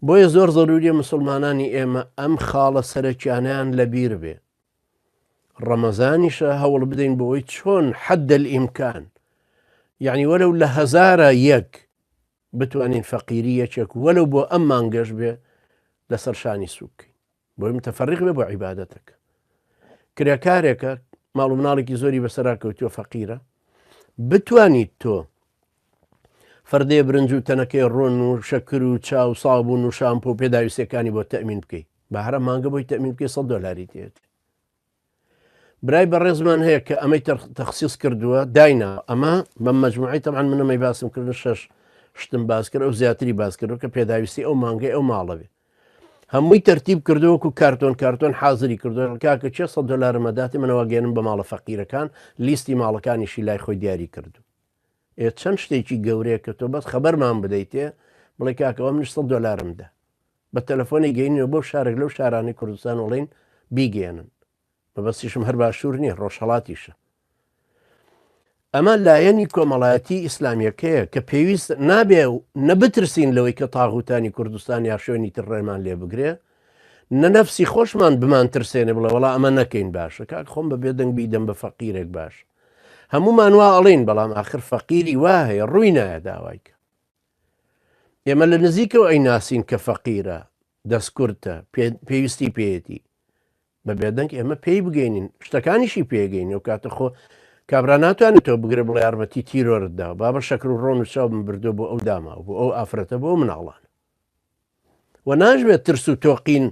بۆیە زۆر زەروریە مسوڵمانانی ئێمە ئەم خاڵە سەرەکیانەیان لەبیر بێ ڕەمەزانیشە هەوڵ بدەین بۆی چۆن حەدەل ئیمکان یعنی وەرەو لە هەزارە یەک بتوانین فەقیری یەکێک وەلو بۆ ئەم مانگەش بێ لەسەر شانی سوکەین بۆی متفەرق بێ بۆ عیبادەتەکە کرێکارێکە ماڵ و مناڵێکی زۆری بەسەرا کەوتووە فەقیرە بتوانیت تۆ فەردێ برنج و تەنەکەی ڕۆن و شەکر و چاو سابوون و شامپۆ پێداویستەکانی بۆ تەمین بکەیت بەهرە مانگە بۆی تەمین بکەی 100 دلاری دێت برای بەڕێزمان هەیە کە ئەمەی تەخصیص کردووە داینا ئەمە بەم مجموعی تەعاان منەمەی باسم کردن شش شتم باسکرد ئەو زیاتری باسکردو کە پێداویستی ئەو مانگەی ئەو ماڵەوێ هەمووی تەرتیب کردووەکو کارتۆن کارتۆن حاضری کردو کاکە چێ سە دلارمەداتی منەوە گەێنم بە ماڵە فەقیرەکان لیستی ماڵەکانیشی لای خۆی دیاری کردو ئێ چەند شتێکی گەورەیە کە تۆ بەس خەبەرمان بدەیتێ بڵێ کاکەوەم نیش سە دلارمدا بە تەلەفۆنێک گەینینەوە بۆ شارێک لەو شارانەی کوردستان و ڵێین بیگەیەنن مەبەستیشم هەر باشوور نییە ڕۆژهڵاتیشە ئەمە لایەنی کۆمەڵایەتی ئیسلامیەکەیە کە پێویست نابێ و نەبترسین لەوەی کە تاغوتانی کوردستان یا شوێنی تر ڕێمان لێ بگرێ نەنەفسی خۆشمان بمان ترسێنێ بڵێ وڵا ئەمە نەکەین باشە کاک خۆم بە بێدەنگ بیدەم بە فەقیرێک باش هەمومان وا ئەڵین بەڵام آخر فەقیری وا هەیە ڕووی نایە داوایکە ئێمە لە نزیکەوە ئەی ناسین کە فەقیرە دەستکورتە پێویستی پێیەتی بە بێدەنگ ئێمە پێی بگەینین شتەکانیشی پێگەین و کاتە خۆ کابرا ناتوانێت تۆ بگرە بڵێ یارمەتی تیرۆرتدا بابە شەکر و ڕۆن و چاو من بردو بۆ ئەو داما بۆ ئەو ئافرەتە بۆ مناڵان و ناشبێت ترس و تۆقین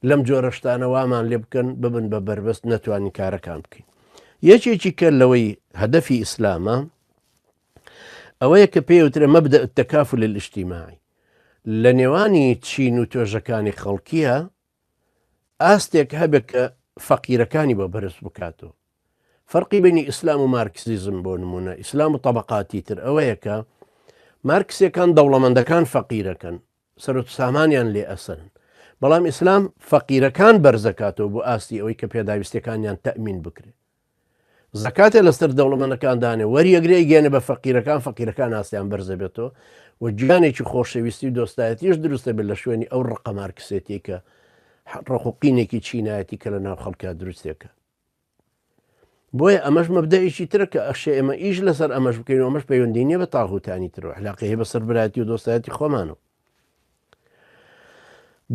لەم جۆرە شتانە وامان لێ بکەن ببن بە بەربەست نەتوانین کارەکان بکەین یەکێکی کە لەوەی هەدەفی ئیسلامە ئەوەیە کە پێوترە مەبدە تەکاف لە ئیشتیماعی لە نێوانی چین و توێژەکانی خەڵکیە ئاستێک هەبێت کە فەقیرەکانی بۆ بەرز بکات و فەرقی بینی ئیسلام و مارکسیزم بۆ نمونە ئیسلام و طبقاتی تر ئەوەیە کە مارکسیەکان دەوڵەمەندەکان فەقیرەکەن سەرۆت سامانیان لێ ئەسن بەڵام ئیسلام فەقیرەکان بەرزەکاتەوە بۆ ئاستی ئەوەی کە پێداویستەکانیان تەمین بکرێت زەکاتێ لەسەر دەوڵەمەنەکان دانێ وەریەگرێ ئیگەێنە بە فەقیرەکان فەقیرەکان ئاسیان بەرزە بێتەوە و گیانێکی خۆشەویستی و دۆستایەتیش دروستە بێت لە شوێنی ئەو ڕقە مارکسێتی کە ڕقوقینێکی چینایەتی کە لە ناو خەڵکە دروستێکە بۆیە ئەمەش مەبدەیەکی ترە کە ئەخشێ ئێمە ئیش لەسەر ئەمەش بکەین ئەمەش پەیوەندی نیە بە تاغوتانی ترەوە حلاقی هەیە بەسەر براتی و دۆستایەتی خۆمانەوە